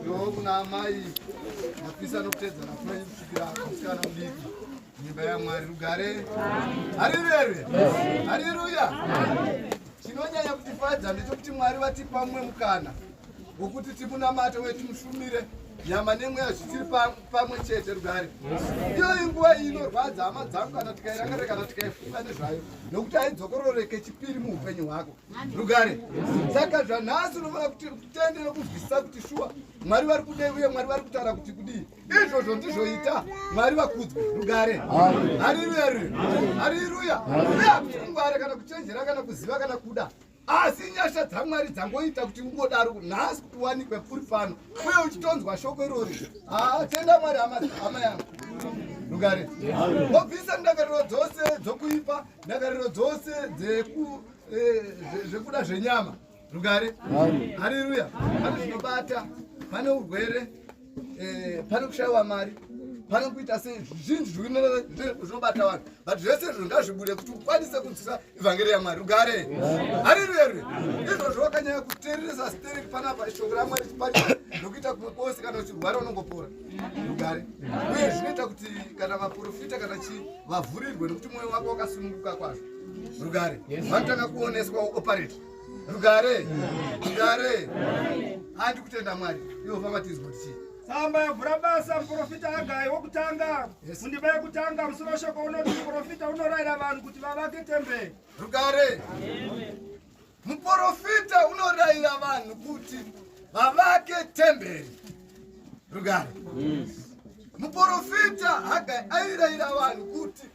Yoo kuna amai mapisa anokutedza nakuna kusvikira musikana mudiki nyimba yamwari rugare harirerwe hariruya chinonyanya kutifadza ndechekuti mwari vatipa mumwe mukana wokuti timunamate uye timushumire nyama nemweya zvichiri pamwe chete rugare iyo inguva iyi inorwadza hama dzangu kana tikairangarira kana tikaifunga nezvayo nokuti haidzokororeke chipiri muupenyu hwako rugare saka zvanhasi unofanira kuti kutende nokuzwisisa kuti shuwa mwari vari kudei uye mwari vari kutaura kuti kudii izvozvo ndizvoita mwari vakudzwe rugare hariruya ruri hariruya uye hakuti kungwara kana kuchenjera kana kuziva kana kuda asi nyasha dzamwari dzangoita kuti ungodaro nhasi kuti uwanikwe puri pano uye uchitonzwa shoko irori haa tenda mwari hama yangu rugare wobvisa ndakariro dzose dzokuipa ndangariro dzose eh, zvekuda e, zvenyama rugare hariruya pane zvinobata pane urwere eh, pane kushayiwa mari pane kuita sei zvinhu zvinobata vanhu but zvese izvo ngazvibude kuti ukwanise kunzwisa evhangeri yamwari ugare hariruya ruya izvozvo wakanyanya kuteereresa sterek panapa shoko ramwari chipari nokuita kumwe kwose kana uchirwara unongopora ugare uye zvinoita kuti kana maprofita kana chii vavhurirwe nokuti mwoyo wako wakasununguka kwazvo rugare vanotanga kuoneswa operate rugare rugare handi kutenda mwari ivo vamatizwa kuti chii tsamba yavhura basa muprofita agai wokutanga mundiba yekutanga musoro weshoko unoti muprofita unorayira vanhu kuti vavake temberi rugare Muporofita unorayira vanhu kuti vavake temberi rugare. Muporofita Hagai airayira vanhu kuti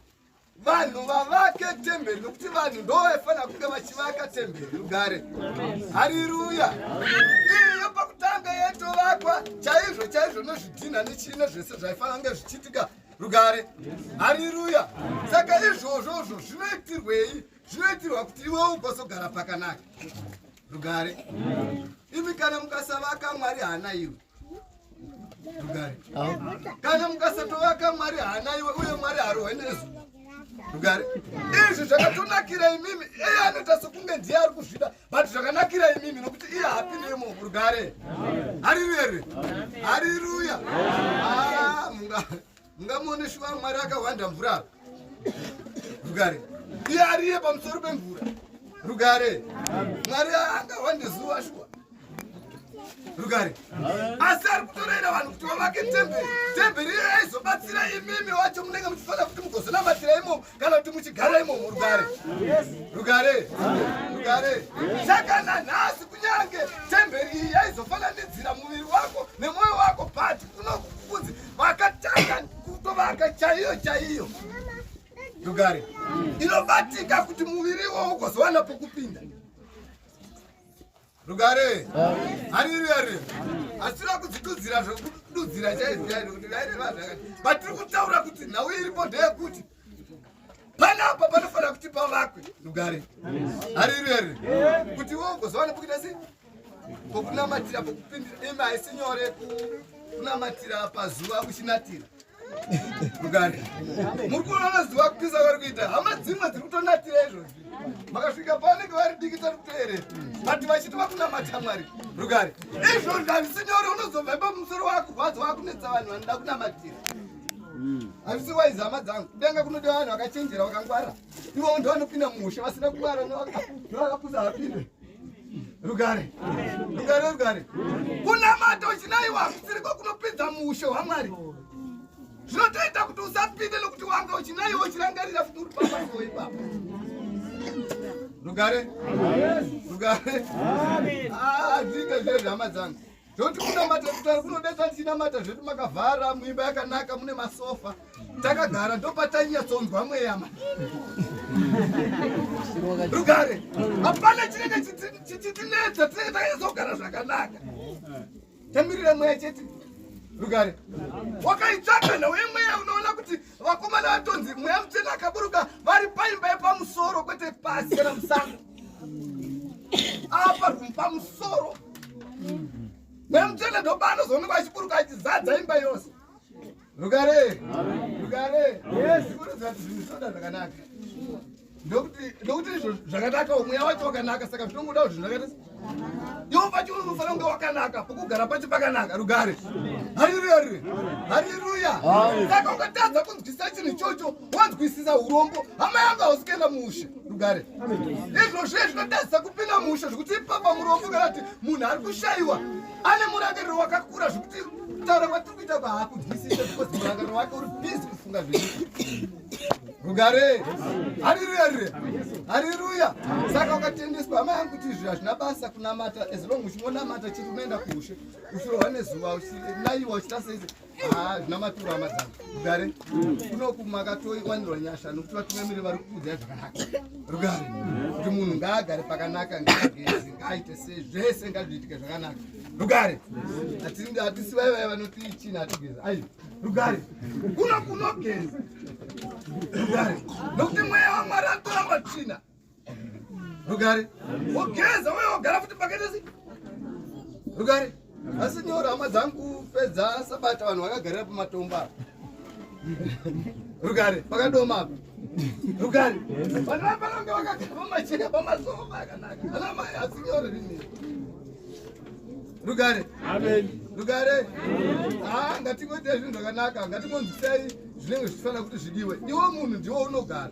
vanhu vavake temberi nokuti vanhu ndovaifanira kunge vachivaka temberi rugare. Hariruya! Iyo pakutanga yaitovakwa chaizvo chaizvo nezvidhinha nechii nezvese zvaifanira kunge zvichiitika rugare. Hariruya! Saka izvozvozvo zvinoitirwei zvinoitirwa kuti iwewo ugozogara pakanaka rugare imi kana mukasavaka mwari haana iwe rugare kana mukasatovaka mwari haana iwe uye mwari harohwe nezuva rugare izvi zvakatonakira imimi iye anoita sokunge ndiye ari kuzvida but zvakanakira imimi nokuti iye hapi nemo rugare hariruya here hariruya ah, mungare mungamuone shuva mwari akahwanda mvura apa rugare iye ariye pamusoro pemvura rugare mwari angahwande zuva shuwa rugare asi ari kutorera vanhu kuti vavake temberi temberi iye aizobatsira imimi wacho munenge muchifanira kuti mugozonamatira imomo kana kuti muchigara imomo rugare rugare rugare saka nanhasi kunyange temberi iyi yaizofananidzira muviri wako nemwoyo wako but unokukunzi vakatanga kutovaka chaiyo chaiyo yogare inobatika kuti muviri iwowo ugozowana pokupinda rugare hariri hariri asina kudzitudzira zvekududzira chaizvo chaizvo kuti vairevazvakati vatiri kutaura kuti nhau iripo ndeyekuti panapa panofanira kuti pavakwe rugare hariri here kuti wo ugoziva nekuita sei pokunamatira pokupindira imi haisi nyore kunamatira pazuva uchinatira rugare muri kuona zuva kupisa kwari kuita hama dzimwe dziri kutonatira izvozvi makasvika pavanenge vari diki tari kutoerera vati vachiti vakunamata mwari rugare izvozvi hazisi nyore unozobva ipa musoro wakurwadza wakunetsa vanhu vanoda kunamatira hazvisi waizi hama dzangu kudenga kunoda vanhu vakachenjera vakangwara ivo ndo vanopinda mumusha vasina kungwara ndovakapusa vapinde rugare rugare rugare kunamata uchinayiwa kusiriko kunopinza muushe hwamwari zvinotoita kuti usapinde nokuti wanga uchinayiwa uchirangarira kuti uri papaoi papa rugare rugare azviita ah, zvezvehama dzangu Toti kunamata kutanga kunodeta tinamata zvedu makavhara muimba yakanaka mune masofa. Takagara ndopatanyanya tsonzwa mweyama. Rugare. Hapana chinenge chitinetsa tinenge takazogara zvakanaka. Tamirira mweya chete. Rugare. Wakaitsvaka nhau yemweya unoona kuti vakomana vatonzi mweya mutsvene akaburuka vari paimba yepamusoro kwete pasi kana musango. apa pamusoro nemutende ndoba anozoonekwa achiburuka achizadza imba yose rugare rugare zikuruza kuti zvinhu zvoda zvakanaka ndokuti izvo zvakanaka mweya wacho wakanaka saka zvinongoda kuti zvinhu zvakaita iwo pacho unofanira kunge wakanaka pokugara pacho pakanaka rugare hariruya rure hariruya saka ukatadza kunzwisisa chinhu ichocho wanzwisisa urombo hama yangu hausi kuenda mushe rugare izvo zviye zvinotadzisa kupinda mushe zvekuti ipapa murombo kana kuti munhu ari kushayiwa ane murangariro wakakura zvekuti taura kwatiri kuita kwaakunzwisisa because murangariro wake uri bhizi kufunga zvei rugare hariruya rire hariruya saka ukatendeswa hama yangu kuti izvi hazvina basa kunamata as long uchingonamata chiri unoenda kuushe uchirohwa nezuva uchilayiwa uchita seise Ah, zvina maturo hama dzangu rugare kunoku makatoiwanirwa nyasha nokuti vatungamiri vari kukudzai zvakanaka rugare kuti munhu ngaagare pakanaka ngaagezi ngaaite se zvese ngazviitike zvakanaka rugare hatisi vai vai vanoti chini hatigezi ai rugare kuno kunogeza rugare nokuti mweya wamwari atora matsvina rugare wogeza uye wogara futi pakati asi rugare asi nyora hama dzangu pedza sabata vanhu vakagarira pamatombo apa rugare pakadoma apa rugare vanhu vapanonge vakagara pamacheka pamasofa akanaka ana mai asi nyora rini rugare rugare haa ah, ngatingoita zvinhu zvakanaka ngatingonzwisai zvinenge zvichifanira kuti zvidiwe iwo munhu ndiwo unogara